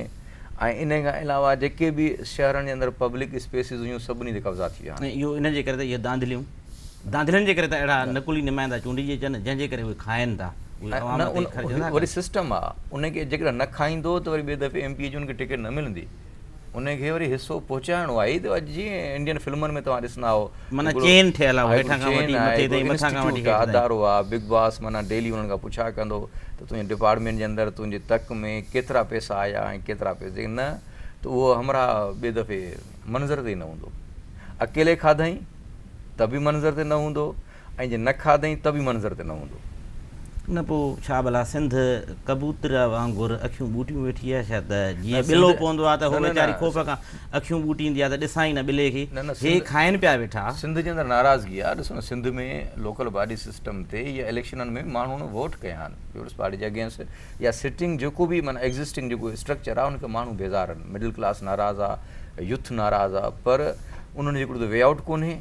۽ انهي کان علاوه جيڪي به شهرن جي اندر پبلڪ اسپيسز هيون سڀني تي قبضا ٿي ويا آهن. ۽ اهو انهن جي ڪري ته اهي ڌانڌليون ڌانڌلين جي ڪري ته اهڙا نقلي نمائندا چونڊجي اچن جنهن جي ڪري اهي کائن ٿا اهي عوام تي خرچ نٿا ڪن. وري سسٽم آ ان کي جيڪڏهن نه کائيندو ته وري ٻي دفعي ايم پي اي جي ان کي ٽڪيٽ نه ملندي. انهي کي وري حصو پهچائڻو آهي ته اڄ جيئن انڊين فلمن ۾ توهان ڏسندا آهو معنيٰ هڪڙو چين ٺهيل آهي هيٺان کان وٺي مٿي تائين مٿان کان وٺي هيٺ تائين ادارو آهي بگ باس معنيٰ ڊيلي انهن کان پڇا ڪندو ته تنهنجي ڊپارٽمينٽ جي اندر تنهنجي تڪ ۾ ڪيترا پئسا آيا ۽ ڪيترا پئسا جيڪڏهن نه ته اهو همراهه ٻي دفعي منظر تي ئي نه هوندو اڪيلي کاڌئين ته به منظر تي نه هوندو ۽ جي نه کاڌئين ته به منظر تي نه هوندو. نه پوء ڇا ڀلا سنڌ ڪبوتر وانگر اکيون ٻوٽيون ويٺي آهي ڇا ته جيئن ٻلو پوندو آهي ته هو ويچاري خوف کان اکيون ٻوٽيندي آهي ته ڏسان ئي نه ٻلي کي هي کائين پيا ويٺا. سنڌ جي اندر ناراضگي آهي ڏسو نه سنڌ ۾ لوڪل باڊي سسٽم تي يا اليڪشنن ۾ ماڻهن ووٽ ڪيا آهن پيپلز پارٽي جي اگينسٽ يا سٽنگ جيڪو به معنيٰ ايگزسٽنگ جيڪو اسٽرڪچر آهي ان کي ماڻهو بيزار آهن مڊل ڪلاس ناراض آهي يوٿ ناراض آهي پر انهن جو هڪڙو ته وي آئوٽ ڪونهي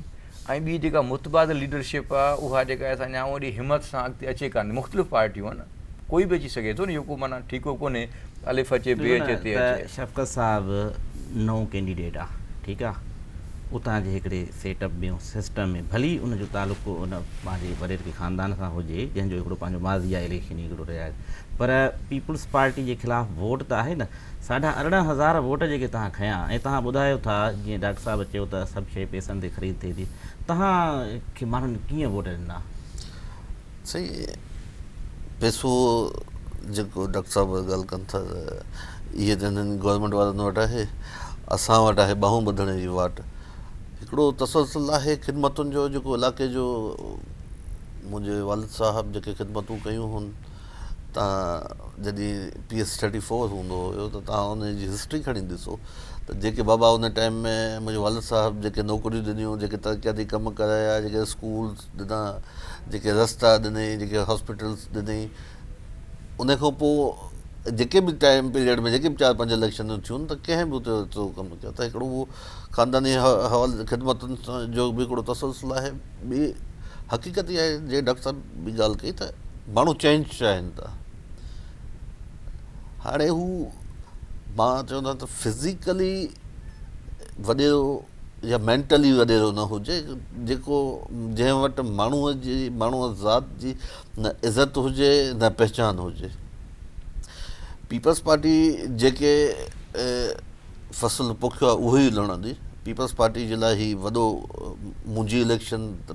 ۽ ٻي جيڪا متبادل ليڊرشپ آ اها جيڪا اسان ڄاڻون ايڏي همت سان اڳتي اچي ڪانه ٿي مختلف پارٽيون آهن ڪوئي به اچي سگهي ٿو نه اهو ڪو معنيٰ ٺيڪو ڪونهي الف اچي بي اچي تي اچي. شفقت صاحب نئون ڪينڊيڊيٽ آ ٺيڪ آ اتان جي هڪڙي سيٽ اپ ۾ سسٽم ۾ ڀلي ان جو تعلق ڪو ان پنهنجي وڏيري ڪي خاندان سان هجي جنهن جو هڪڙو پنهنجو ماضي آ اليڪشن هڪڙو رهي آ پر پيپلز پارٽي جي خلاف ووٽ ته آهي نه ساڍا ارڙهن هزار ووٽ جيڪي توهان کنيا ۽ توهان ٻڌايو ٿا جيئن ڊاڪٽر صاحب چيو ته سڀ شيء پيسن تي خريد ٿئي ٿي توهان کي ماڻهن ڪيئن ووٽ ڏنا؟ سائين پيسو جيڪو ڊاڪٽر صاحب ڳالهه ڪن ٿا ته اهي ته هنن گورنمينٽ وارن وٽ آهي اسان وٽ آهي ٻانهون ٻڌڻ جي واٽ هڪڙو تسلسل آهي خدمتن جو جيڪو علائقي جو منهنجي والد صاحب جيڪي خدمتون ڪيون هن تان جڏهن پي ايس ٿرٽي فور هوندو هيو ته تان ان جي هسٽري کڻي ڏسو ته جيڪي بابا ان ٽائيم ۾ منهنجي والد صاحب جيڪي نوڪريون ڏنيون جيڪي ترقياتي ڪم ڪرايا جيڪي اسڪول ڏنا جيڪي رستا ڏني جيڪي هاسپيٽلس ڏني ان کان پوء جيڪي به ٽائيم پيريڊ ۾ جيڪي به چار پنج اليڪشنون ٿيون ته ڪنهن به اتي ايترو ڪم ڪيو ته هڪڙو هو خانداني حوالي خدمتن جو به هڪڙو تسلسل آهي ٻي حقيقت اها آهي جيئن ڊاڪٽر صاحب به ڳالهه ڪئي ته ماڻهو چينج چاهين ٿا هاڻي هو مان چوندا ته فزيڪلي وڏيرو يا مينٽلي وڏيرو نه هجي جيڪو جنهن وٽ ماڻهو جي ماڻهو ذات جي نه عزت هجي نه پهچان هجي پيپلز پارٽي جيڪي فصل پوکيو آهي اهو ئي لڻندي. پيپلز پارٽي جي لاء هي وڏو منهنجي اليڪشن ته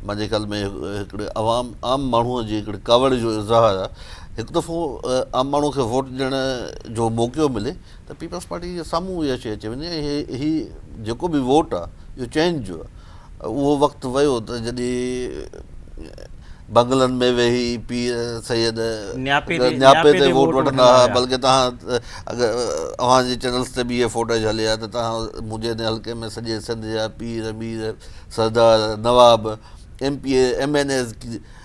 منهنجي خيال ۾ هڪڙي عوام عام ماڻهو جي هڪڙي ڪاوڙ جو اظهار آهي هڪ دفعو عام ماڻهو کي ووٽ ڏيڻ جو موقعو ملي ته پيپلز پارٽي جي سامهون اها شيء اچي وڃي ۽ هي جيڪو به ووٽ آهي اهو چينج جو آهي. اهو وقت ويو ته جڏهن بنگلن ۾ ويهي پير سيد. نياپي تي نياپي تي ووٽ وٺندا ها بلڪه تهان اگر اوهان جي چينلز تي به اهي فوٽيج هلي ها ته تهان منهنجي هن حلقي ۾ سڄي سنڌ جا پير مير سردار نواب M P A M N As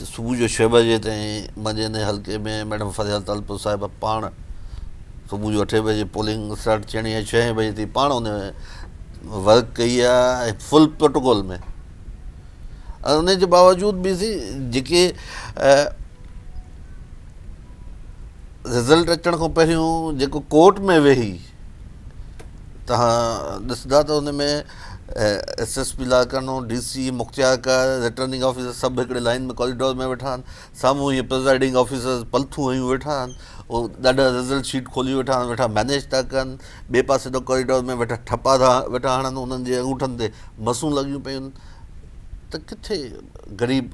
صبح جو ڇهه بجي تائين منجهند جي حلقي ۾ ميڊم فريال تالپور صاحبه پاڻ صبح جو اٺين بجي پولنگ اسٽارٽ ٿيڻي آهي ڇهين بجي تائين پاڻ ان ورڪ ڪئي آهي ۽ فل پروٽوڪول ۾ ان جي باوجود به سي جيڪي رزلٽ اچڻ کان پهريون جيڪو ڪورٽ ۾ ويهي توهان ڏسندا ته ان ۾ S S P Larkana, D C, مختيارڪار، رٽرننگ آفيسر سڀ هڪڙي لائين ۾ ڪاريڊور ۾ ويٺا آهن. سامهون هي پرزائيڊنگ آفيسرز پلٿون هنيون ويٺا آهن. هو ڏاڍا رزلٽ شيٽ کولي ويٺا آهن، ويٺا مئنيج ٿا ڪن. ٻئي پاسي ڏانهن ڪاريڊور ۾ ويٺا ٺپا ٿا ويٺا هڻن، انهن جي انگوٺن تي مسون لڳيون پيون آهن ته ڪٿي غريب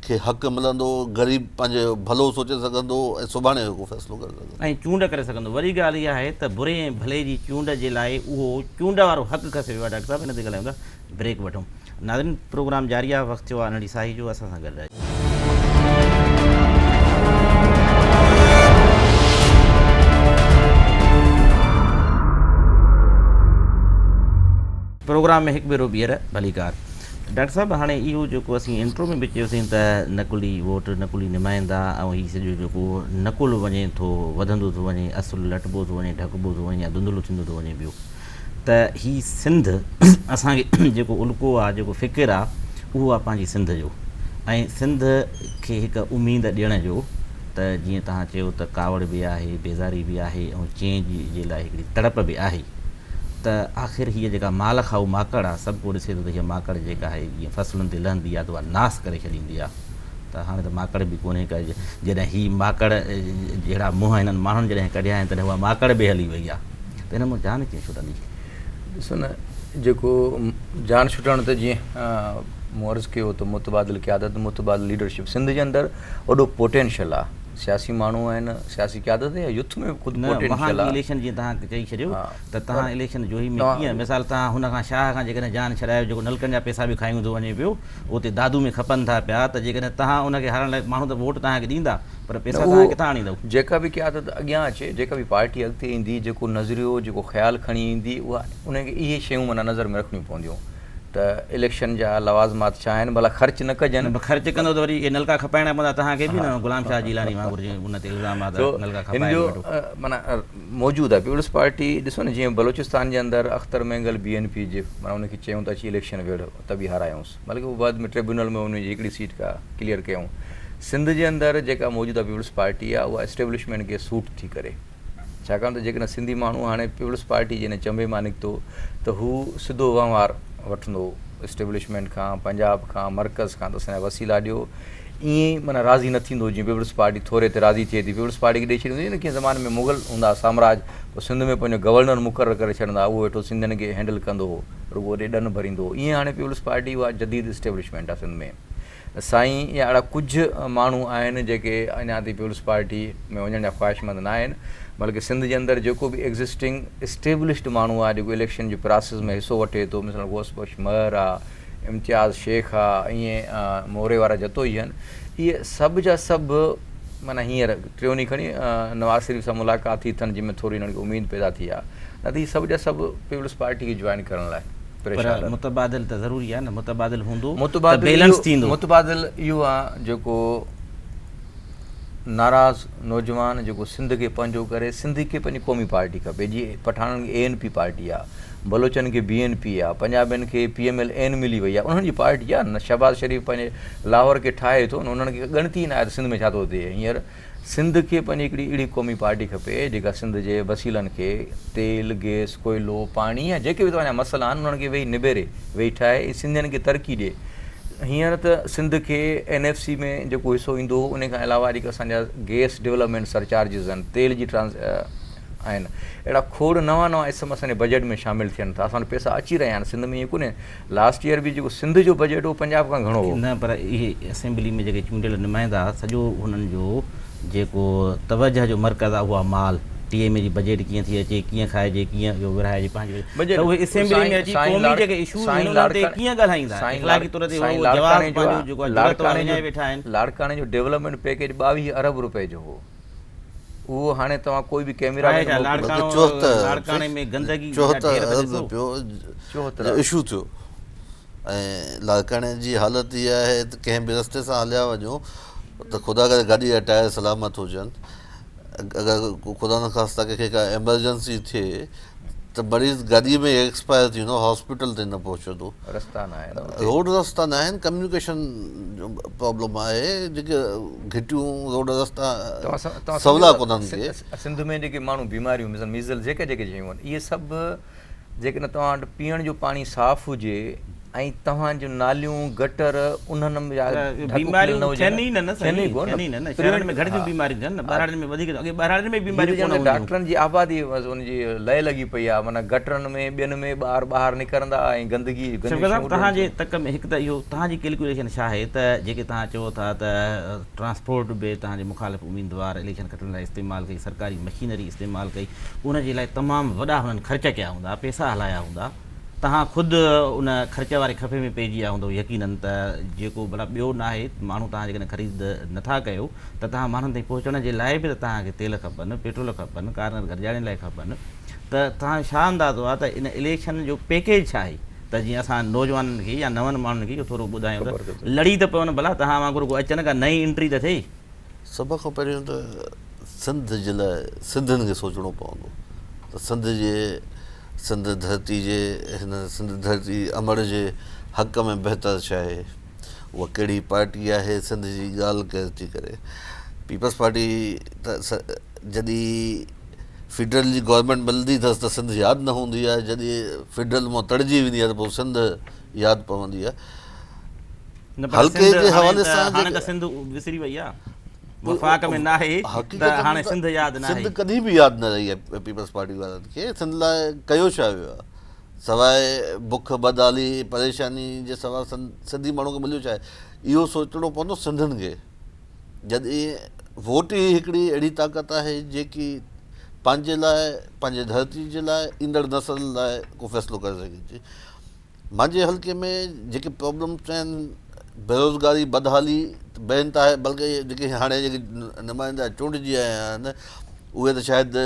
کي حق ملندو، غريب پنهنجو ڀلو سوچي سگهندو ۽ سڀاڻي جو ڪو فيصلو ڪري سگهندو. ۽ چونڊ ڪري سگهندو. وڏي ڳالهه اها آهي ته بري ۽ ڀلي جي چونڊ جي لاء اهو چونڊ وارو حق کسي ويو آهي ڊاڪٽر صاحب هن تي ڳالهايون ٿا بريڪ وٺون ناظرين پروگرام جاري آهي وقت ٿيو آهي انهڙي ساهي جو اسان سان گڏ رهجو. پروگرام ۾ هڪ ڀيرو ٻيهر ڀليڪار. ڊاڪٽر صاحب هاڻي اهو جيڪو اسين انٽرو ۾ به چيوسين ته نقلي ووٽ نقلي نمائندا ۽ هي سڄو جيڪو نقل وڃي ٿو وڌندو ٿو وڃي اصل لٽبو ٿو وڃي ڍڪبو ٿو وڃي يا ڌنڌلو ٿيندو ٿو وڃي پيو ته هي سنڌ اسان کي جيڪو الڪو آ جيڪو فڪر آ اهو آ پنهنجي سنڌ جو ۽ سنڌ کي هڪ اميد ڏيڻ جو ته جيئن توهان چيو ته ڪاوڙ به آهي بيزاري به آهي ۽ چينج جي لاء هڪڙي تڙپ به آهي ته آخر هيء جيڪا مال کائو ماڪڙ آ، سڀ ڪو ڏسي ٿو ته هيء ماڪڙ جيڪا آهي جيئن فصلن تي لهندي آ ته اها ناس ڪري ڇڏيندي آ ته هاڻي ته ماڪڙ به ڪونهي ڪا جڏهن هي ماڪڙ جهڙا منهن هنن ماڻهن جڏهن ڪڍيا آهن تڏهن اها ماڪڙ به هلي وئي آ ته هن مون جان ڪيئن ڇٽندي؟ ڏسو نه جيڪو جان ڇٽڻ ته جيئن مون عرض ڪيو ته متبادل قيادت متبادل ليڊرشپ سنڌ جي اندر وڏو پوٽينشل آ. سياسي ماڻهو آهن سياسي قيادت يا يوٿ ۾ به خود پوٽينشل آهي. نه وهانڪي اليڪشن جيئن تهان چئي ڇڏيو ته تهان اليڪشن جوهي ۾ ڪيئن مثال تهان هن کان شاهه کان جيڪڏهن جان ڇڏايو جيڪو نلڪن جا پئسا به کائي هوندو وڃي پيو اتي دادو ۾ کپن ٿا پيا ته جيڪڏهن تهان ان کي هارائڻ لاء ماڻهو ته ووٽ تهان کي ڏيندا پر پئسا تهان ڪٿان آڻيندو. جيڪا به قيادت اڳيان اچي جيڪا به پارٽي اڳتي ايندي جيڪو نظريو جيڪو خيال کڻي ايندي اها ان کي اهي شيون معنيٰ نظر ۾ رکڻيون پونديون. ته اليڪشن جا لوازمات ڇا آهن ڀلا خرچ نه ڪجن. نه خرچ ڪندو ته وري اهي نلڪا کپائڻا پوندا تهان کي به نه غلام شاهه جيلاني وانگر جي ان تي الزام آ ته نلڪا کپائي ٿو ويٺو. معنيٰ موجود آهي پيپلز پارٽي ڏسو نه جيئن بلوچستان جي اندر Akhtar Mengal B N P جي معنيٰ ان کي چيون ته اچي اليڪشن وڙهه ته به هارايونس بلڪه هو بعد ۾ ٽربيونل ۾ ان جي هڪڙي سيٽ ڪا ڪليئر ڪيون سنڌ جي اندر جيڪا موجوده پيپلز پارٽي آ اها اسٽيبلشمينٽ کي سوٽ ٿي ڪري. ڇاڪاڻ ته جيڪڏهن سنڌي ماڻهو هاڻي پيپلز پارٽي جي ان چنبي مان نڪتو ته هو سڌو وهنوار وٺندو اسٽيبلشمينٽ کان، پنجاب کان، مرڪز کان ته اسان جا وسيلا ڏيو. ائين ئي معنيٰ راضي نه ٿيندو جيئن پيپلز پارٽي ٿوري تي راضي ٿئي ٿي. پيپلز پارٽي کي ڏئي ڇڏيندو جيئن ڪنهن زماني ۾ مغل هوندا ها سامراج پوء سنڌ ۾ پنهنجو گورنر مقرر ڪري ڇڏندا ها اهو ويٺو سنڌين کي هينڊل ڪندو هو رڳو اڏي ڏن ڀريندو هو ائين هاڻي پيپلز پارٽي اها جديد اسٽيبلشمينٽ آهي سنڌ ۾. سائين يا اھڙا ڪجھ ماڻھو آھن جيڪي اڃا تائين پيپلز پارٽي ۾ وڃڻ جا خواھشمند نه آھن بلڪه سنڌ جي اندر جيڪو به ايگزسٽنگ اسٽيبلشڊ ماڻھو آھي جيڪو اليڪشن جي پراسيس ۾ حصو وٺي ٿو مثلا غوث بخش مھر آ امتياز شيخ آ ائين موري وارا جتوئي ھن اھي سڀ جا سڀ معنيٰ ھينئر ٽيون ڏينھن کڻي نواز شريف سان ملاقات ٿي اٿن جنھن ۾ ٿوري ھنن کي اميد پيدا ٿي آ نه ته ھي سڀ جا سڀ پيپلز پارٽي کي جوائن ڪرڻ لاء پر متبادل ته ضروري آهي نه متبادل هوندو ته بيلنس ٿيندو. متبادل اهو آهي جيڪو ناراض نوجوان جيڪو سنڌ کي پنهنجو ڪري سنڌ کي پنهنجي قومي پارٽي کپي جي پٺاڻن کي اي اين پي پارٽي آهي بلوچن کي بي اين پي آهي پنجابين کي پي ايم ايل اين ملي وئي آهي انهن جي پارٽي آهي نه شهباز شريف پنهنجي لاهور کي ٺاهي ٿو نه انهن کي ڳڻتي ئي ناهي ته سنڌ ۾ ڇا ٿو ٿئي هينئر سنڌ کي پنهنجي هڪڙي اهڙي قومي پارٽي کپي جيڪا سنڌ جي وسيلن کي تيل، گئس، ڪوئلو، پاڻي يا جيڪي به توهان جا مسئلا آهن انهن کي ويهي نبيري، ويهي ٺاهي ۽ سنڌين کي ترقي ڏي. هينئر ته سنڌ کي اين ايف سي ۾ جيڪو حصو ايندو هو انهي کان علاوه جيڪي اسان جا گئس ڊولپمينٽ سرچارجز آهن، تيل جي ٽرانس آهن اهڙا کوڙ نوان نوان اسم اسان جي بجيٽ ۾ شامل ٿين ٿا، اسان وٽ پئسا اچي رهيا آهن سنڌ ۾ ائين ڪونهي. لاسٽ ييئر به جيڪو سنڌ جو بجيٽ هو پنجاب کان گهڻو هو. نه پر اهي اسيمبلي ۾ جيڪي چونڊيل نمائندا سڄو هنن جو جيڪو توجهه جو مرڪز آهي اهو آهي مال، ٽي ايم اي جي بجيٽ ڪيئن ٿي اچي، ڪيئن کائجي، ڪيئن اهو ورهائجي پنهنجي وجه ته اهي اسيمبلي ۾ اچي قومي جيڪي ايشوز آهن انهن تي ڪيئن ڳالهائيندا، اخلاقي طور تي اهو جواز پنهنجو جيڪو آهي جڙت وارو وڃائي ويٺا آهن. لاڙڪاڻي جو ڊولپمينٽ پيڪيج ٻاويهه ارب روپئي جو هو. اهو هاڻي توهان ڪوئي به ڪئميرا مين کي موڪليو. لاڙڪاڻي ۾ گندگي جا ڍير ته ڏسو. چوهترا جو اشو ٿيو ۽ لاڙڪاڻي جي حالت اها آهي ته ڪنهن به رستي سان هليا وڃو ته خدا ڪري گاڏي جا ٽائر سلامت هجن اگر خدا نخواسته ڪنهن کي ڪا ايمرجنسي ٿئي ته مريض گاڏيء ۾ ايڪسپائر ٿي ويندو هاسپيٽل تائين نه پهچندو رستا ناهن اتي روڊ رستا ناهن ڪميونيڪيشن جو پرابلم آهي جيڪي گهٽيون روڊ رستا سولا ڪونهن ڪي سنڌ ۾ جيڪي ماڻهو بيماريون مثال ميزل جيڪي جيڪي شيون آهن اهي سڀ جيڪڏهن توهان وٽ پيئڻ جو پاڻي صاف هجي ۽ توهان جون ناليون، گٽر، انهن ۾ يا ڍڪ کليل نه هجن. ٿين ئي ڪو نه. شهرن ۾ گهٽ ٿيون بيماريون ٿين نه. ٻهراڙين ۾ وڌيڪ ٿيون. اڳي ٻهراڙين ۾ بيماريون ڪونه هونديون هيون. ڊاڪٽرن جي آبادي بس ان جي لئه لڳي پئي آهي. معنيٰ گٽرن ۾ ٻين ۾ ٻار ٻاهر نڪرندا ۽ گندگي ۽ گنديون شيون اڏريون ٿيون. شوڪت صاحب توهان جي تڪ ۾ هڪ ته اهو توهان جي ڪيلڪوليشن ڇا آهي ته جيڪي توهان چئو ٿا ته ٽرانسپورٽ به توهان جي مخالف اميدوار اليڪشن کٽڻ لاء استعمال ڪئي، سرڪاري مشينري استعمال ڪئي، ان جي لاء تمام وڏا هنن خرچ ڪيا هوندا، پئسا هلايا هوندا. توهان خود ان خرچ واري خفي ۾ پئجي ويا هوندؤ يقينن ته جيڪو ڀلا ٻيو ناهي ماڻهو توهان جيڪڏهن خريد نه ٿا ڪيو ته توهان ماڻهن تائين پهچڻ جي لاء به ته توهان کي تيل کپن پيٽرول کپن ڪارنر گڏجاڻين لاء کپن ته توهان ڇا اندازو آهي ته ان اليڪشن جو پيڪيج ڇا آهي ته جيئن اسان نوجوانن کي يا نون ماڻهن کي اهو ٿورو ٻڌايون ته لڙي ته پون ڀلا توهان وانگر ڪو اچن ڪا نئين انٽري ته ٿئي. سڀ کان پهريون ته سنڌ جي لاء سنڌين کي سوچڻو پوندو ته سنڌ جي سنڌ ڌرتي جي هن سنڌ ڌرتي امڙ جي حق ۾ بهتر ڇا آهي اها ڪهڙي پارٽي آهي سنڌ جي ڳالهه ڪير ٿي ڪري پيپلز پارٽي ته جڏي فيڊرل جي گورنمينٽ ملندي اٿس ته سنڌ ياد نه هوندي آهي جڏي فيڊرل مان تڙجي ويندي آهي ته پوء سنڌ ياد پوندي آهي حلقي جي حوالي سان هاڻي ته سنڌ وسري وئي آ وفاق ۾ ناهي ته هاڻي سنڌ ياد ناهي سنڌ ڪڏهن به ياد نه رهي آهي پيپلز پارٽي وارن کي سنڌ لاء ڪيو ڇا ويو آهي سواء بک بدحالي پريشاني جي سواء سنڌي ماڻهو کي مليو ڇا آهي اهو سوچڻو پوندو سنڌين کي جڏهن ووٽ ئي هڪڙي اهڙي طاقت آهي جيڪي پنهنجي لاء پنهنجي ڌرتي جي لاء ايندڙ نسل لاء ڪو فيصلو ڪري سگهي ٿي مانجهي حلقي ۾ جيڪي پرابلمز چيائين بيروزگاري بدحالي ته بي انتهائي بلڪه جيڪي هاڻي جيڪي نمائندا چونڊجي آيا آهن اهي ته شايد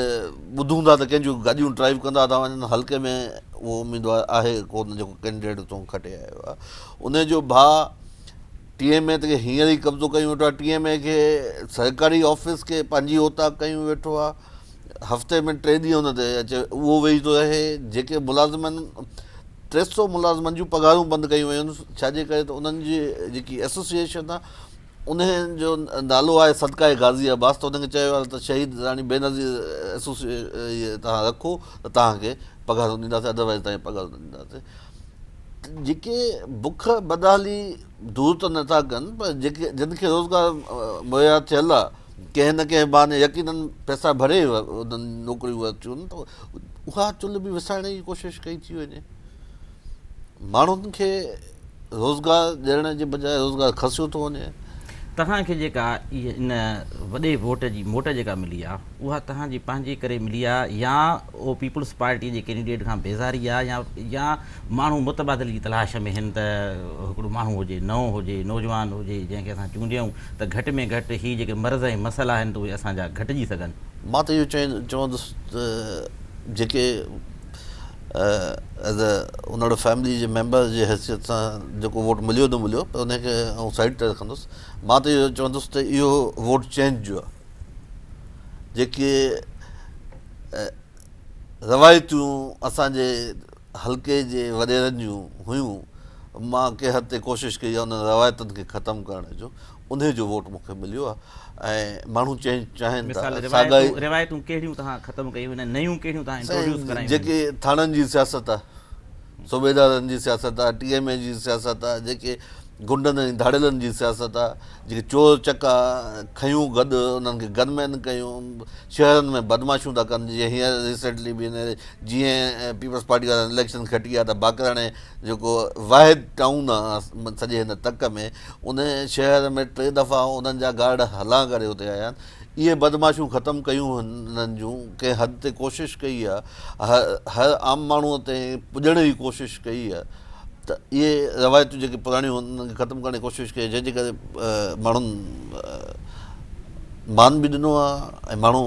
ٻڌون ٿا ته ڪنهن جون گاڏيون ڊرائيو ڪندا ٿا وڃن حلقي ۾ اهو اميدوار آهي ڪونه جيڪو ڪينڊيڊيٽ اتان کٽي آيو آهي ان جو ڀاء ٽي ايم اي تي هينئر ئي قبضو ڪيون ويٺو آهي ٽي ايم اي کي سرڪاري آفيس کي پنهنجي اوطاق ڪيون ويٺو آهي هفتي ۾ ٽي ڏينهن ان تي اچي اهو ويهي ٿو رهي جيڪي ملازمن ٽي سؤ ملازمن جون پگهارون بند ڪيون ويون آهن ڇاجي ڪري ته انهن جي جيڪي ايسوسيئيشن آهي انهي جو نالو آهي صدقائي غازي عباس ته انهن کي چيو ويو آهي ته شهيد راڻي بينظير ايسوسيئيشن توهان رکو ته توهان کي پگهارون ڏينداسين ادروائيز توهان کي پگهارون نه ڏينداسين جيڪي بک بدحالي دور ته نٿا ڪن پر جيڪي جن کي روزگار مهيا ٿيل آهي ڪنهن نه ڪنهن بهاني يقينن پئسا ڀري انهن نوڪريون اچن ته اها چلهه به وسائڻ جي ڪوشش ڪئي ٿي وڃي ماڻهن کي روزگار ڏيڻ جي بجاء روزگار کسيو ٿو وڃي توهان کي جيڪا ان وڏي ووٽ جي موٽ جيڪا ملي آهي اها توهان جي پنهنجي ڪري ملي آهي يا او پيپلز پارٽي جي ڪينڊيڊيٽ کان بيزاري آهي يا يا ماڻهو متبادل جي تلاش ۾ هن ته هڪڙو ماڻهو هجي نئون هجي نوجوان هجي جنهن کي اسان چونڊيون ته گهٽ ۾ گهٽ هي جيڪي مرض ۽ مسئلا آهن ته اهي اسان جا گهٽجي سگهن. مان ته اهو چوندس ته جيڪي ايز اي انڙ فيملي جي ميمبر جي حيثيت سان جيڪو ووٽ مليو نه مليو پر انهي کي آئون سائيڊ تي رکندس مان ته اهو چوندس ته اهو ووٽ چينج جو آهي جيڪي روايتون اسان جي حلقي جي وڏيرن جون هيون، مان ڪنهن حد تائين ڪوشش ڪئي آهي انهن روايتن کي ختم ڪرڻ جو، انهي جو ووٽ مون کي مليو آهي ۽ ماڻهو چينج چاهين ٿا، ساڳائي. روايتون ڪهڙيون توهان ختم ڪيون آهن ۽ نيون ڪهڙيون توهان انٽروڊيوس ڪرايون آهن؟ جيڪي ٿاڻن جي سياست آهي، صوبيدارن جي سياست آهي، ٽي ايم اي جي سياست آهي، جيڪي غنڊن ۽ ڌاڙيلن جي سياست آهي، جيڪي چور چڪا کنيون گڏ انهن کي گن مين ڪيون، شهرن ۾ بدمعاشيون ٿا ڪن، جيئن هينئر ريسينٽلي به هن جيئن پيپلز پارٽي وارن اليڪشن کٽي آ ته باقر هاڻي جيڪو واحد ٽائون آ سڄي هن تڪ ۾ ان شهر ۾ ٽي دفعا انهن جا گارڊ هلان ڪري اتي آيا آهن اهي بدمعاشيون ختم ڪيون هنن جون ڪنهن حد تي ڪوشش ڪئي آ هر عام ماڻهو تي پڄڻ جي ڪوشش ڪئي آ ته اهي روايتون جيڪي پراڻيون هن انهن کي ختم ڪرڻ جي ڪوشش ڪئي جنهن جي ڪري ماڻهن مان به ڏنو آهي ۽ ماڻهو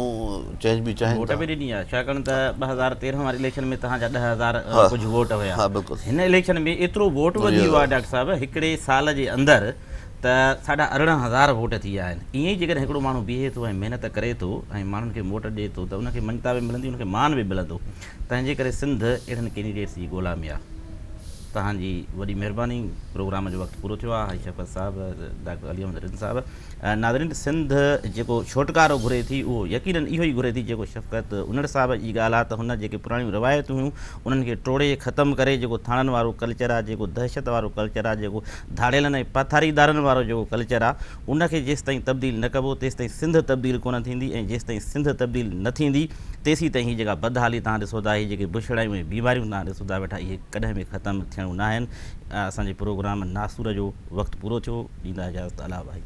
چينج به چاهين ٿا. ووٽ به ڏني آهي ڇاڪاڻ ته ٻه هزار تيرنهن واري اليڪشن ۾ توهان جا ڏهه هزار ڪجهه ووٽ هيا هن اليڪشن ۾ ايترو ووٽ وڌي ويو آهي ڊاڪٽر صاحب هڪڙي سال جي اندر ته ساڍا ارڙهن هزار ووٽ ٿي ويا آهن ائين ئي جيڪڏهن هڪڙو ماڻهو بيهي ٿو ۽ محنت ڪري ٿو ۽ ماڻهن کي ووٽ ڏي ٿو ته ان کي مڃتا به ملندي ان کي مان به ملندو تنهن جي ڪري سنڌ اهڙن ڪينڊيڊيٽس جي ڳولا ۾ آ. توهان جي وڏي مهرباني پروگرام جو وقت پورو ٿيو آ هائي شفقت صاحب ڊاڪٽر علي محمد رند صاحب ناظرين سنڌ جيڪو ڇوٽڪارو گهري ٿي اهو يقينن اهو ئي گهري ٿي جيڪو شفقت انڙ صاحب جي ڳالهه آ ته هن جيڪي پراڻيون روايتون هيون انهن کي ٽوڙي ختم ڪري جيڪو ٿاڻن وارو ڪلچر آ جيڪو دهشت وارو ڪلچر آ جيڪو ڌاڙيلن ۽ پاٿاريدارن وارو جيڪو ڪلچر آ ان کي جيستائين تبديل نه ڪبو تيستائين سنڌ تبديل ڪونه ٿيندي ۽ جيستائين سنڌ تبديل نه ٿيندي تيسين تائين هي جيڪا بدحالي توهان ڏسو ٿا هي جيڪي بڇڙايون ۽ بيماريون توهان ڏسو ٿا ويٺا اهي ڪڏهن به ختم ٿيڻيون ناهن اسان جي پروگرام ناسور جو وقت پورو ٿيو ڏيندا اجازت الله وحيد.